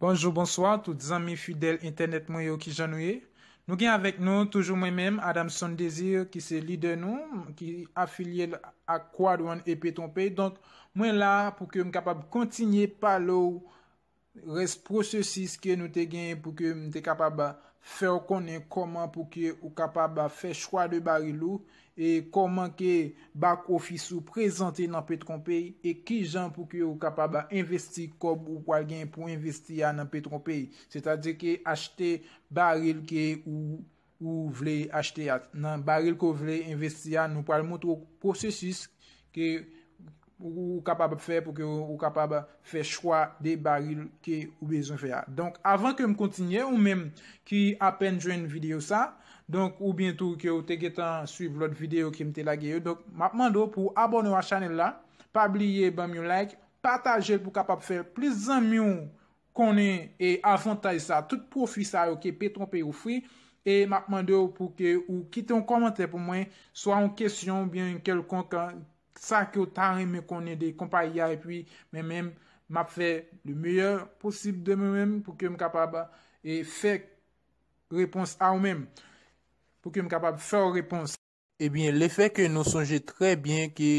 Bonjou bonswa tout zanmi fidèl entènèt mwen yo kijan nou ye nou gen avèk nou toujou mwen menm Adamson Desir ki se lidè nou ki afilyel ak Quad One Epe Tronpe donk mwen la pou ke m kapab kontinye pale w Rès pwosesis ke nou te genyen pou ke m te kapab fè w konnen kòman pou ke ou kapab fè chwa de baril ou, e kòman ke bak ofis ou prezante nan Petronpay, e kijan pou ke ou kapab envesti kòb ou pral genyen pou envesti a nan Petronpay. Sètadi ke achte baril ke ou. ou vle achte a, nan baril ke w vle envesti a, nou pral moutre w pwosesis ke ou kapab ap fè pou ke ou kapab fè chwa de baril ke ou bezwen fè a. Donk, avan ke m kontinye, ou menm ki apèn jwenn videyo sa, donk ou byen tou ke ou te gentan swiv lòt videyo ke m te lage yo, donk m ap mande w pou w abòne w a chanèl la, pa bliye ban m yon like, pataje l pou w kapab fè plis zanmi w konnen e avantaj sa tout pwofi sa yo ke petron pay ofri e map mandew pou ke ou kite yon kòmantè pou mwen swa yon kesyon ou byen yon kèlkonk sa ke ou ta renmen konnen de konpayi a epi mwen menm map fè le meyè posib de mwen menm pou kem kapab e fè repons a ou menm pou kem kapab fèw repons. Ebyen lefè ke nou sonje trè byen ke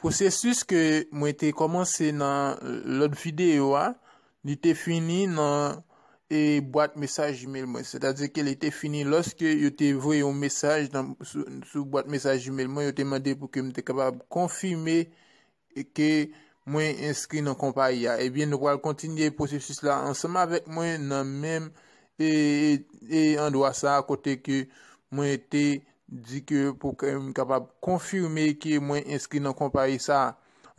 pwosesis ke mwen te kòmanse nan lòt videyo a, li te fini nan bwat mesaj Gmail mwen. Sètadi ke li te fini lòske yo te voye yon mesaj sou bwat mesaj Gmail mwen, yo te mande pou ke m te kapab konfime e ke mwen enskri nan konpayi a, ebyen nou pral kontinye pwosesis la ansanm avèk mwen nan menm e andwa sa a kote ke mwen te di ke pou ke m kapab konfime ke mwen enskri nan konpayi sa a.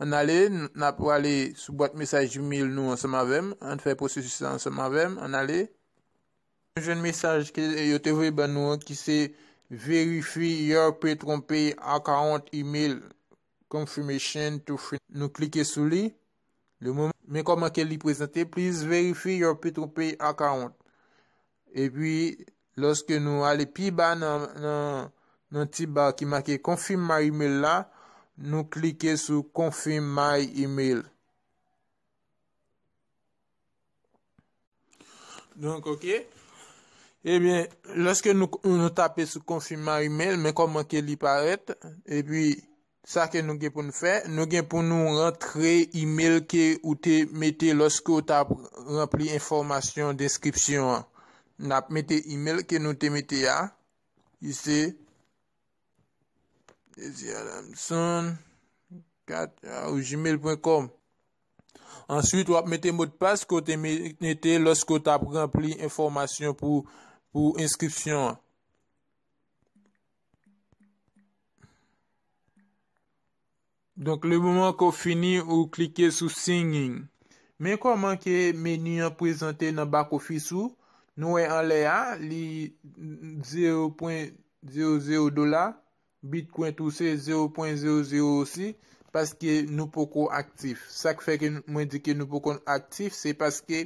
Ann ale, n ap prale sou bwat mesaj Gmail nou ansanm avè m, ann fè pwosesis la ansanm avè m, ann ale. Nou jwenn mesaj ke yo te voye ban nou an ki se Verify your PetronPay Account Email Confirmation to free nou klike sou li le moman men kòman ke li prezante please verify your Petropay account epi lòske nou ale pi ba nan nan nan ti bar ki make confirm my email la nou klike sou confirm my email Donk ok. Ebyen, eh lèske nou tape sou konfim ma email, men kòman ke li parèt, epi sa ke nou gen pou nou fè, nou gen pou nou rantre email ke ou te mete lòske ou ta ranpli enfòmasyon deskripsyon an. Nap mete email ke nou te mete a, ki se. Jezi Adamson 4 au gmail.com Answit wap mete modpas ke w te mete loske w tap ranpli enfomasyon pou enskripsyon an. Donk le moman ke w fini ou klike sou Singing. Men kòman ke menu an prezante nan back office ou, nou wè anlè a li zero pwen zero zero dola, Bitcoin tou se zero pwen zero zero osi, paske nou poko aktif. Sak fè ke mwen di ke nou poko aktif se paske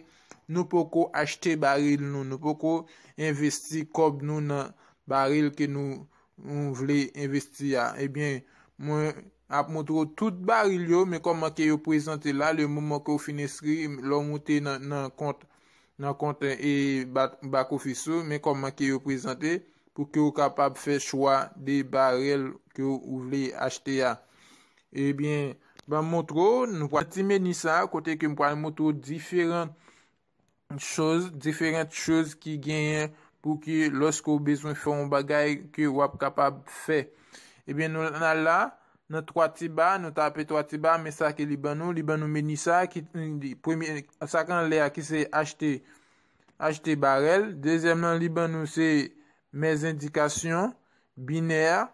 nou poko achte baril nou, nou poko envesti kòb nou nan baril ke nou Ou vle envesti a? Ebyen, mwen ap montre w tout baril yo, men kòman ke yo prezante la, le moman ke ou fin enskri, lè w moute nan kont, nan kont e back office ou, men kòman ke yo prezante, pou ke ou kapab fè chwa de baril ke ou vle achte a. Ebyen, banm montre w, nou pral nan ti meni sa, kote ke m pral montre w diferan. chòz, diferant chòz ki genyen pou ki lòske ou bezwen fè yon bagay ke w ap kapab fè. Ebyen nou nan la, nan twa ti ba, nou tape twa ti ba, men sa ke li ban nou, li ban nou meni sa, ki premye, sa ki anlè a ki se achte, achte barèl, dezyèm nan li ban nou se mèzendikasyon, binè a,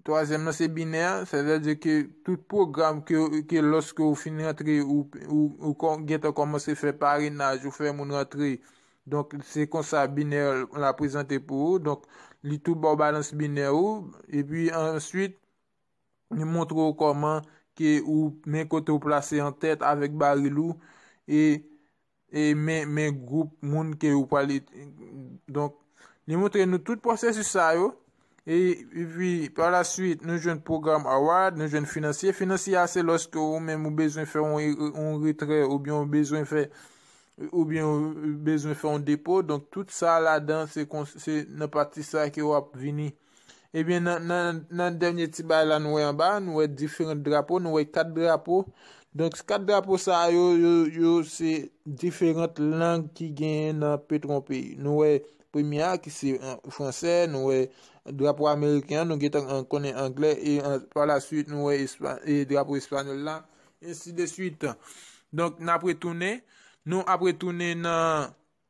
Twazyèm nan se binè, sètadi ke tout pwogram ke lòske ou fin rantre ou gentan kòmanse fè parenaj, ou fè moun rantre, donk se konsa binè la prezante pou ou, donk li tou ba w balans binè ou, epi answit li montre ou kòman ke ou men kote ou plase an tèt avèk baril ou, e. e men men gwoup moun ke ou pale donk li montre nou tout pwosesis sa yo e pi pa la suite nou jwenn pwogram award nou jwenn finansye finansye a se lòske ou menm ou bezwen fè yon retrè ou byen ou bezwen fè ou byen ou bezwen fè yon depo donk tout sa ladan se nan pati sa ke wap vini. Ebyen nan nan nan dènye ti bagay la nou wè anba a, nou wè diferant drapo, nou wè 4 drapo. Donk 4 drapo sa a yo, yo yo se diferant lang ki genyen nan petwon peyi. Nou wè premye a ki se fransè, nou wè drapo ameriken an, nou gentan an konnen anglè e pa la suit nou wè espa e drapo espanyòl la ensi de suit. Donk n ap retounen, nou ap retounen nan.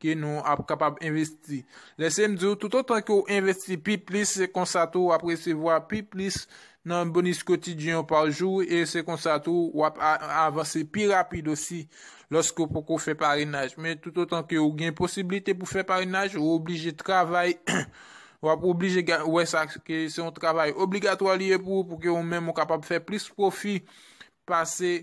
ke nou ap kapab envesti. Lese m di w, toutotan ke w envesti pi plis, se konsa tou w ap resevwa pi plis nan bonis kotidyen w pa jou, e se konsa tou w ap avanse pi rapid osi lòske w poko fè parenaj. Men toutotan ke w gen posiblite pou fè parenaj, ou oblije travay, w ap oblije wè sa ke se yon travay obligatwa li ye pou ou, pou ke ou menm ou kapab fè plis pwofi pase.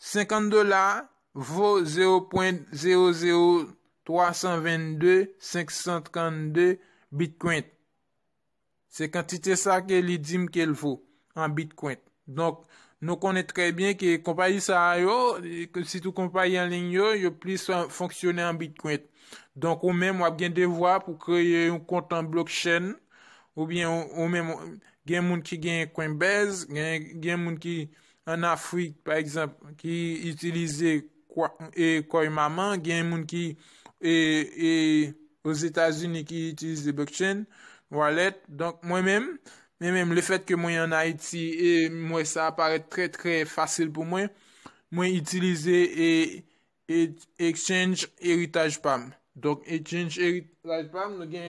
50 dola vo 0.00322.532 bitcoin. Se kantite sa ke li di m ke l vo an bitcoin. Donk, nou konnen trè byen ke konpayi sa a yo, sitou konpayi an liy yo, yo plis fonksyone an bitcoin. Donk, ou menm wap gen devwa pou kreye yon kont an blockchain, oubyen ou menm gen moun ki gen coinbase, gen moun ki an Afrik pa egzanp ki itilize kòy manman, gen moun ki ozetazini ki itilize blockchain wallet, donk mwen menm, mwen menm le fèt ke mwen an Ayiti e m wè sa parèt trè trè fasil pou mwen, mwen itilize exchange eritaj pa m. Donk exchange eritaj pa m nou gen.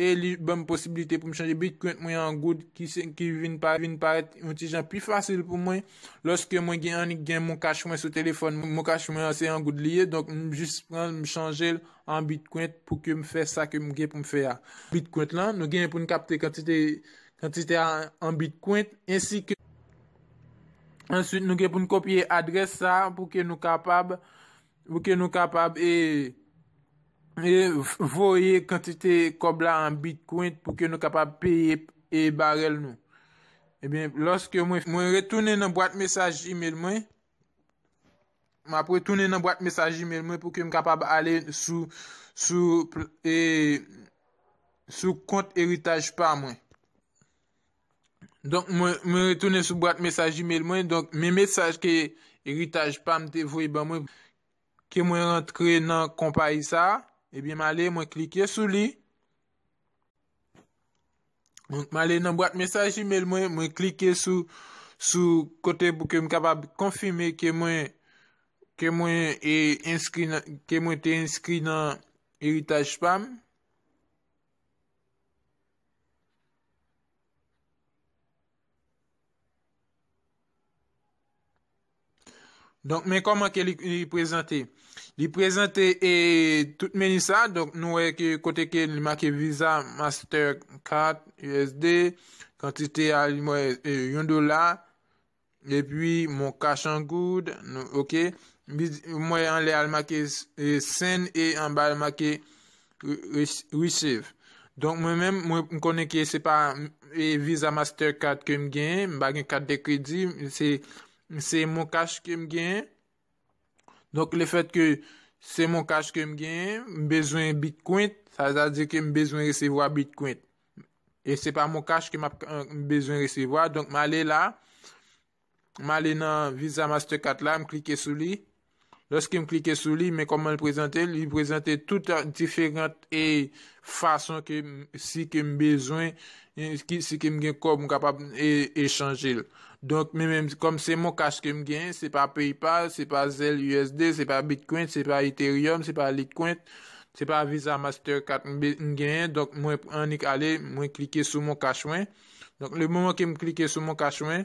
e li banm posibilite pou m chanje Bitcoin mwen an Goud ki vin parèt yon ti jan pi fasil pou mwen lòske mwen gen annik gen MonCash mwen sou telefòn mwen, MonCash mwen an se an Goud li ye donk m jis pran l m chanje l an Bitcoin pou ke m fè sa ke m gen pou m fè a. Bitcoin lan, nou genyen pou n kapte kantite kantite a an Bitcoin ensi ke answit nou gen pou n kopye adrès sa pou ke nou kapab Pou ke nou kapab voye kantite kòb la an bitcoin pou ke nou kapab peye barèl nou. Ebyen, lòske mwen retounen nan bwat mesaj email mwen, m ap retounen nan bwat mesaj email mwen pou ke m kapab ale sou kont eritaj pa mwen. Donk mwen retounen sou bwat mesaj email mwen, donk men mesaj ke eritaj pa m te voye ban mwen, ke mwen rantre nan konpayi sa, ebyen m ale mwen klike sou li, donk m ale nan bwat mesaj email mwen, mwen klike sou, sou kote pou ke m kapab konfime ke mwen, ke mwen e enskri nan, ke mwen te enskri nan eritaj pa m. Donk men kòman ke li prezante. Li prezante e tout meni sa. Donk nou wè ke kote ke li make visa, master card, USD. Kantite a li mwen yon dola. E pi mon cash en goud. Ok. Mwen anlè al make send e anba al make receive. Donk mwen men mwen konnen ke se pa visa master card ke m gen. M pa gen carte de crédit. Se mon cash ke m gen. Donk le fèt ke se mon cash ke m genyen, m bezwen bitkwent, sa sa di ke m bezwen resevwa bitkwent. E se pa mon cash ke m ap bezwen resevwa, donk m ale la, m ale nan Visa Mastercard la, m klike sou li. Lòske m klike sou li, men kòman l prezante, li prezante tout diferant e fason ke si ke m bezwen resevwa. Si ke m gen kòb m kapab echanje l. Donk men menm kòm se mon cash ke m gen, se pa PayPal, se pa Zelle usd, se pa Bitcoin, se pa Ethereum, se pa Litecoin, se pa Visa Master Card m genyen. Donk mwen annik ale mwen klike sou mon cash mwen. Donk le moman ke m klike sou mon cash mwen,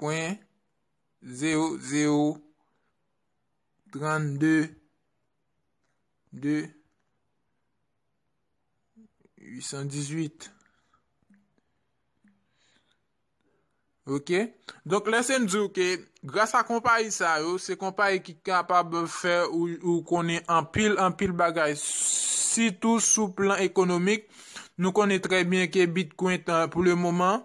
pwen 00322818. Ok, donk lè se m di w ke gras a konpayi sa yo, se konpayi ki kapab fè ou konnen anpil anpil bagay, sitou sou plan ekonomik, nou konnen trè byen ke Bitcoin pou le moman,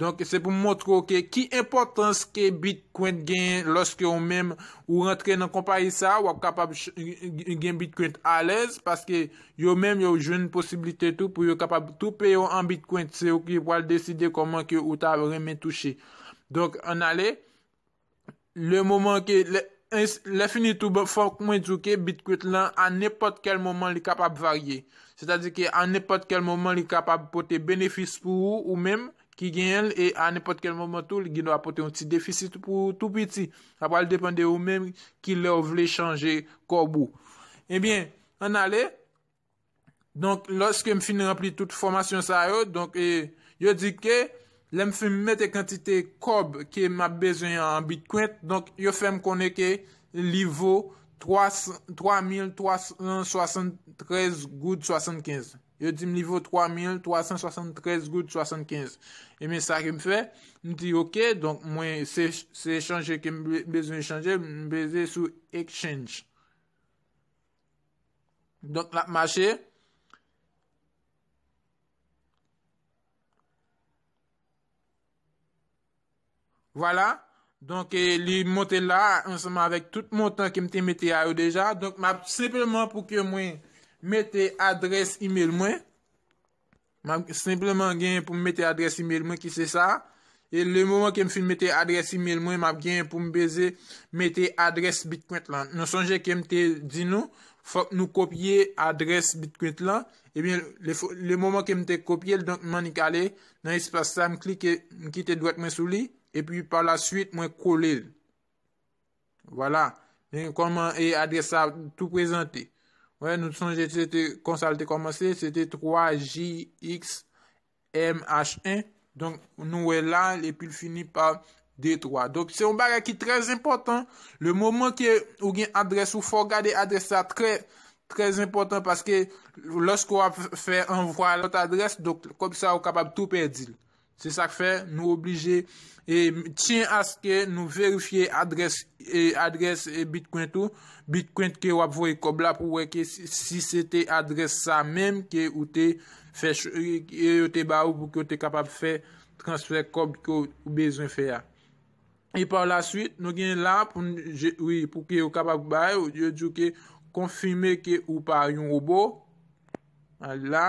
Donk se pou m montre w ke ki enpòtans ke Bitcoin genyen lòske ou menm ou rantre nan konpayi sa a, w ap kapab gen Bitcoin alèz paske yo menm yo jwenn posiblite tou pou yo kapab tou peye w an Bitcoin. Se yo ki pral deside kòman ke ou ta renmen touche. Donk an ale. Le moman ke le Lè fini tou fòk mwen di w ke Bitkwit lan a nenpòt kèl moman li kapab varye. Se ta di ke a nenpòt kèl moman li kapab pote benefis pou ou ou menm ki genyen l e a nenpòt kèl moman tou li gendwa pote yon ti defisit pou ou tou piti. Sa pral depan de ou menm ki lè ou vle chanje kòb ou. Ebyen, ann ale, Donk, lòske m fin ranpli tout fòmasyon sa yo, donk, yo di ke lè m fin mete kantite kòb ke m ap bezwen an an bitcoin, donk, yo fè m konnen ke li vo 3373 goud 75. Yo di m li vo 3373 goud 75. Ebyen, sa ke m fè, m di ok, donk, mwen se chanje ke m bezwen chanje, m peze sou exchange. Donk l ap mache. Vwala. Donk li monte la ansanman avèk tout montan ke m te mete a yo deja. Donk m ap senpleman pou ke mwen mete adrès email mwen. Map senpleman genyen pou m mete adrès email mwen ki se sa. E le moman ke m fin mete adrès email mwen, map genyen pou m beze mete adrès Bitkwent lan. Nou sonje ke m te di nou, fòk nou kopye adrès Bitkwent lan. Ebyen, le moman ke m te kopye l, donk m annik ale nan espas sa, m klike, m kite dwèt mwen sou li, epi pa la suite mwen kole l. Vwala, men kòman e adrès la tou prezante. Wè, nou sonje se te konsa l te kòmanse, se te 3JXMH1. Donk, nou wè la, epi l fini pa 23. Donk, se yon bagay ki trè zenpòtan. Le moman ke ou gen adrès ou, fò w gade adrès la trè, trè zenpòtan. Paske, lòske w ap fè anvwa lòt adrès, donk, kòb sa ou kapab tou pèdi l. Se sak fè nou oblije tyen aske nou verifye adrès bitcoin ou, bitcoin ke wap voye kòb la pou wè ke si se te adrès sa menm ke ou te fè, ke yo te ba ou pou ke ou te kapab fè transfè kòb ke ou bezwen fè a. E pa la suite, nou gen la pou ke yo kapab bay ou, yo di ou ke konfime ke ou pa yon robo, al la.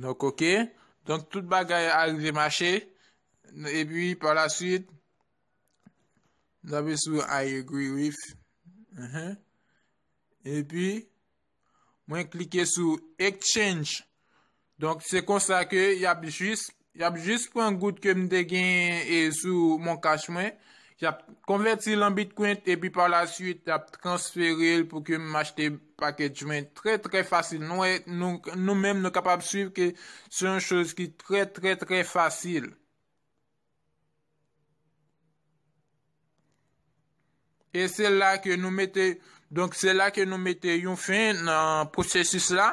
Nou koke, donk tout bagay a rive mache, e pi pa la suite, nou api sou I agree with, e pi, Mwen klike sou Exchange. Donk se konsa ke y ap jis, y ap jis pran goud ke m te genyen e sou mon cash mwen. Y ap konvèti l an Bitcoin epi pa la suite y ap transfere l pou ke m achte package mwen trè trè fasil. Nou wè, nou menm nou kapab swiv ke se yon choz ki trè trè trè fasil. E se la ke nou mete, donk se la ke nou mete yon fin nan pwosesis la.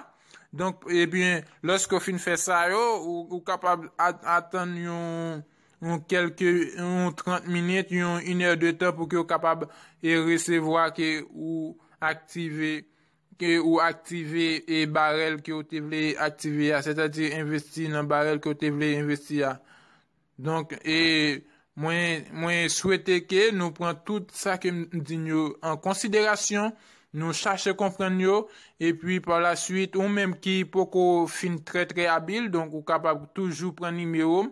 Donk, ebyen, lòske ou fin fè sa yo, ou kapab atann yon kelke, yon 30 minit, yon 1 è de tan pou ke ou kapab resevwa ke ou aktive ke ou aktive e barèl ke ou te vle aktive a, sètadi envesti nan barèl ke ou te vle envesti a. Donk, e mwen, mwen swete ke nou pran tout sa ke m di n yo an konsiderasyon, nou chache konprann yo, epi pa la swit, ou menm ki poko fin trè trè abil, donk ou kapab toujou pran nimewo m,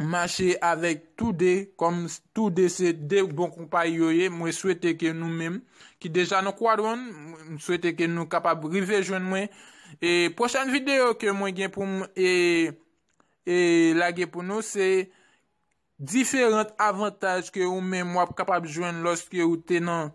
mache avèk tou 2 kòm tou 2 se 2 bon konpayi yo ye mwen swete ke nou menm ki deja nan kwadwonn mwen swete ke nou kapab rive jwenn mwen e pwochèn video ke mwen gen pou m e e lage pou nou se diferant avantaj ke ou menm wap kapab jwenn lòske ou te nan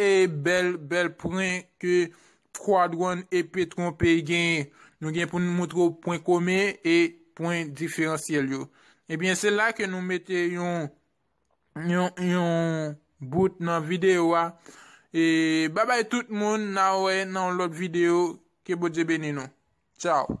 Eey bèl bèl pren ke Squadron e Petron P genyen. Nou gen pou n moutre w pwen komen e pwen diferansyèl yo. Ebyen se la ke nou mete yon yon bout nan videyo a. E babay tout moun na wè nan yon lòt videyo ke Bondye beni nou. Tchao.